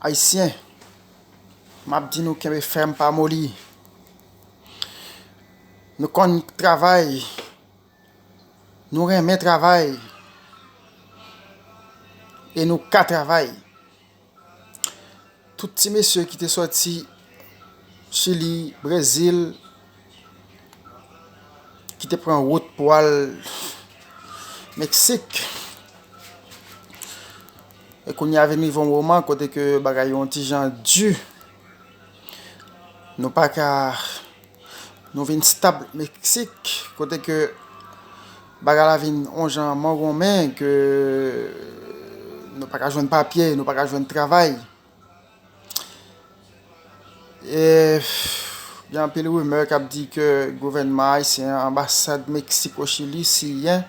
Ayisyen map di nou kenbe fèm pa moli Nou konn travay Nou renmen travay E nou ka travay Tout ti mesye ki te soti chili brezil ki te pran wout pou al Meksik, e kounye a vin rive yon moman kote ke bagay yo yon ti jan di, nou pa ka, nou vin stab Meksik, kote ke bagay la vin yon jan mangonmen, ke nou pa ka jwenn papye, nou pa ka jwenn travay. Gen anpil rimè k ap di ke gouvènman ayisyen an, anbasad Meksik o Chili siyen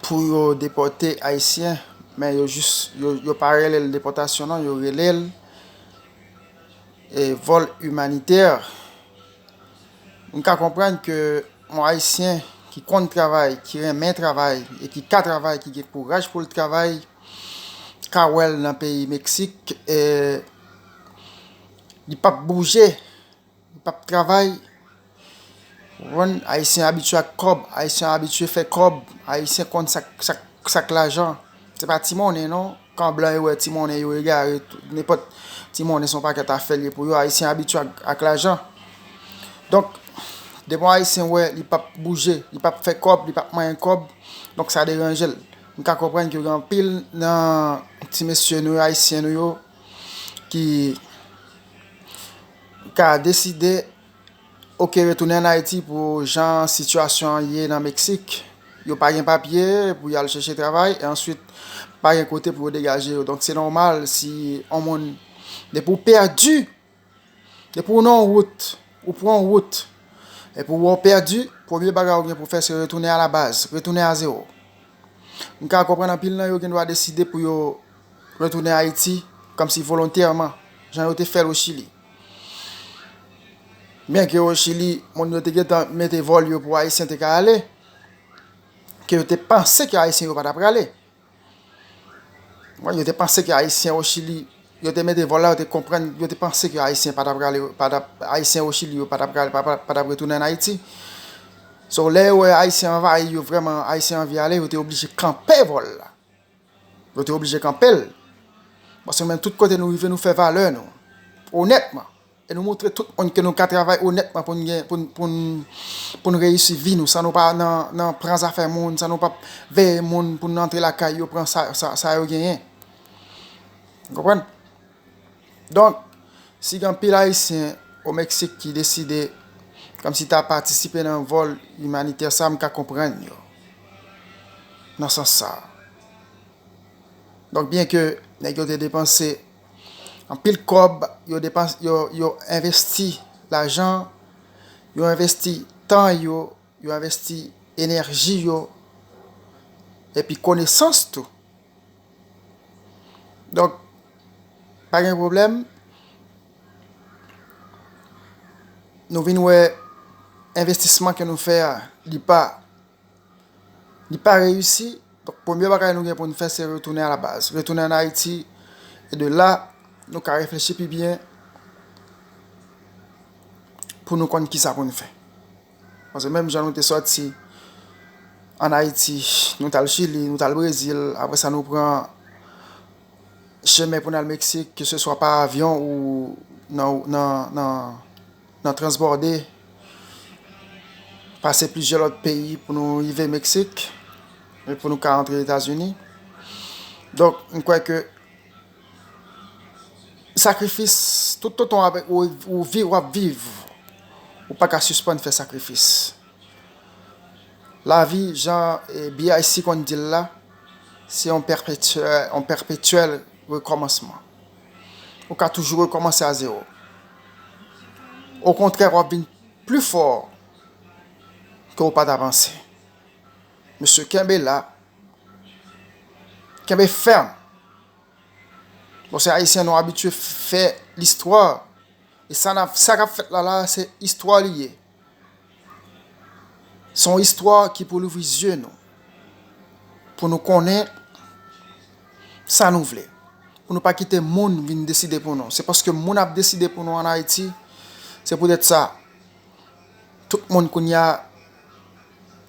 pou yo depòte ayisyen, men yo jis, yo pa rele l depòtasyon non, yo rele l vòl imanitè. M ka konprann ke yon ayisyen ki konn travay, ki renmen travay e ki ka travay, ki gen kouraj pou l travay, ka wèl nan peyi meksik e li pap bouje li pap travay ou konprann ayisyen abitye ak kòb ayisyen abitye fè kòb ayisyen konn sak sak sak lajan se pa ti monnen non kan blan yo wè ti monnen yo egare tou nenpòt ti monnen son pakèt afè liye pou yo ayisyen abitye ak lajan donk depi yon ayisyen wè li pap bouje li pap fè kòb li pap manyen kòb donk sa deranjel. M ka konprann ke gen anpil nan ti mesye nou yo, Ayisyen nou yo, ki ka deside ok retounen an Ayiti pou jan sitiyasyon an ye nan Meksik. Yo pa gen papye pou y al chèche travay, e answit pa gen kote pou yo degaje yo. Donk se nòmal si yon moun, depi ou pèdi! Depi w nan yon wout, ou pran yon wout, epi ou wè w pèdi, premye bagay ou gen pou fè se retounen a la baz, retounen a zewo. M ka konprann anpil nan yo gen dwa deside pou yo retounen Ayiti kòmsi volontèman, jan yo te fè l o Chili. Byen ke o Chili, moun yo te gen tan mete vòl yo pou Ayisyen te ka ale, ke yo te panse ke Ayisyen yo pa ta prale. Mwen yo te panse ke ayisyen o chili yo te mete vòl la yo te konprann yo te panse ke ayisyen pa tap prale pa tap ayisyen o chili yo pa tap prale pa tap retounen an ayiti so lè yo wè ayisyen anvayi yo vrèman ayisyen anvi ale yo te oblije kanpe vòl la yo te oblije kanpel paske nou menm tout kote nou rive nou fè valè nou onètman E nou montre tout moun ke nou ka travay onètman pou n gen, pou n, pou n, pou n reyisi vi nou san nou pa nan, nan pran zafè moun, san nou pap veye moun pou n antre lakay yo pran sa, sa, sa yo genyen. Ou konprann? Donk, si gen anpil Ayisyen o Meksik ki deside kòmsi ta patisipe nan vòl imanitè sa, m ka konprann yo nan sans sa. Donk, byenke nèg yo te depanse. Anpil kòb yo depanse yo yo envesti lajan yo envesti tan yo yo envesti enèji yo epi konesans tou donk pa gen pwoblèm nou vin wè envestisman ke nou fè a li pa Li pa reyisi, donk premye bagay nou gen pou nou fè se retounen a la baz. Retounen an Ayiti, e de la, nou ka reflechi pi byen pou nou konn ki sa pou nou fè. Pase menm jan nou te soti an Ayiti, nou tal Chili, nou tal Brezil, apre sa nou pran chemen pou nan Meksik, ke se swa pa avyon ou nan. Nan transbòde, pase plizyè lòt peyi pou nou rive Meksik, e pou nou ka antre Etazini. Donk, m kwè ke sakrifis, toutotan ou viv, w ap viv, ou pa ka sispann fè sakrifis. Lavi, jan BIC konn di l la, se yon pèpetyèl rekòmansman. Ou ka toujou rekòmanse a zewo. Okontrè wap vin pli fò ke ou pa ta panse. Mesye kenbe la, kenbe fèm. Bon se ayisyen nou abitye fè listwa. E sa kap fèt la la se istwa li ye. Se yon istwa ki pou louvri zye nou, pou nou konnen sa nou vle, pou nou pa kite moun vin deside pou nou. Se paske moun ap deside pou nou an Ayiti, se pou tèt sa, tout moun kounye a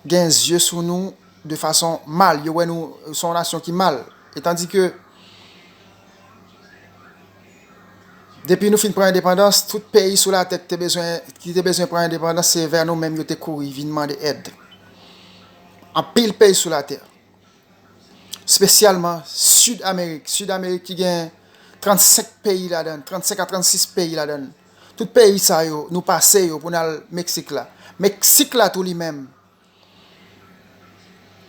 gen zye sou nou de fason mal, yo wè nou se yon nasyon ki mal. E tandike, Depi nou fin pran endepandans, tout peyi sou latè ki te bezwen pran endepandans se vè nou menm yo te kouri vin mande èd. Anpil peyi sou latè, spesyalman Sid Amerik, Sid Amerik ki gen 35 peyi ladan, 35 a 36 peyi ladan, tout peyi sa yo nou pase yo pou n al Meksik la. Meksik la tou li menm,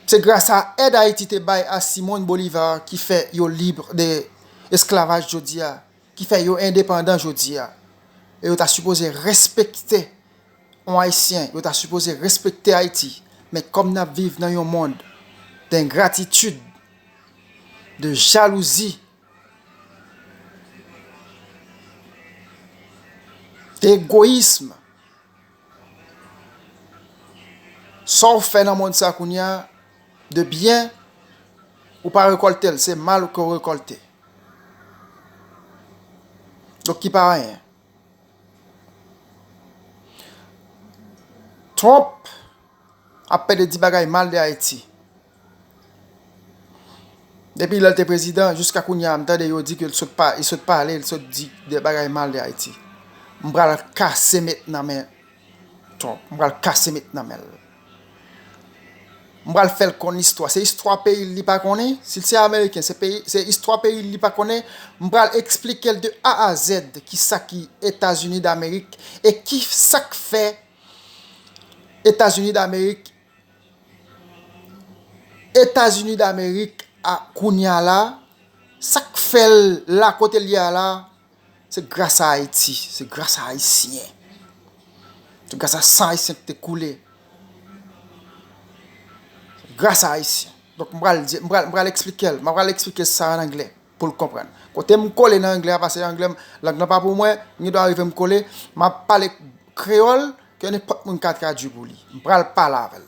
Se gras a èd Ayiti te bay a Simón Bolívar ki fè yo libre de esklavaj jodi a, ki fè yo endepandan jodi a. E yo ta sipoze respekte yon Ayisyen, yo ta sipoze respekte Ayiti. Men kòm n ap viv nan yon mond dengratitid, de jalouzi, de egoyism, Sa w fè nan mond sa kounye a, de byen, ou pa rekòlte l, se mal ke w rekòlte. Donk ki pa anyen. Trump ap pede di bagay mal de Ayiti. Depi lè l te prezidan, jiska kounye a m tande yo di ke l sot pale, l sot pale, l sot di de bagay mal de Ayiti. M pral kase met nan men Trump, m pral kase met nan men l. M pral fè l konn istwa, se istwa peyi l li pa konnen, si l se ameriken se peyi, se istwa peyi l li pa konnen, m pral eksplike l de A a zèd ki sa ki Etazini Damerik e ki sa k fè Etazini Damerik Etazini damerik a kounya la sak fèl la kotel ye a la se gras a ayiti se gras a ayisyen se gras a san ayisyen ki te koule gras a ayisyen donk m pral di m pral esplikel m pral esplike sa an anglè. Pou l konprann. Kote m kole nan anglè a pase anglè m lang lan pa pou mwen, m gendwa rive m kole, m ap pale kreyòl ke nenpòt moun ka tradui pou li. M pral pale avè l.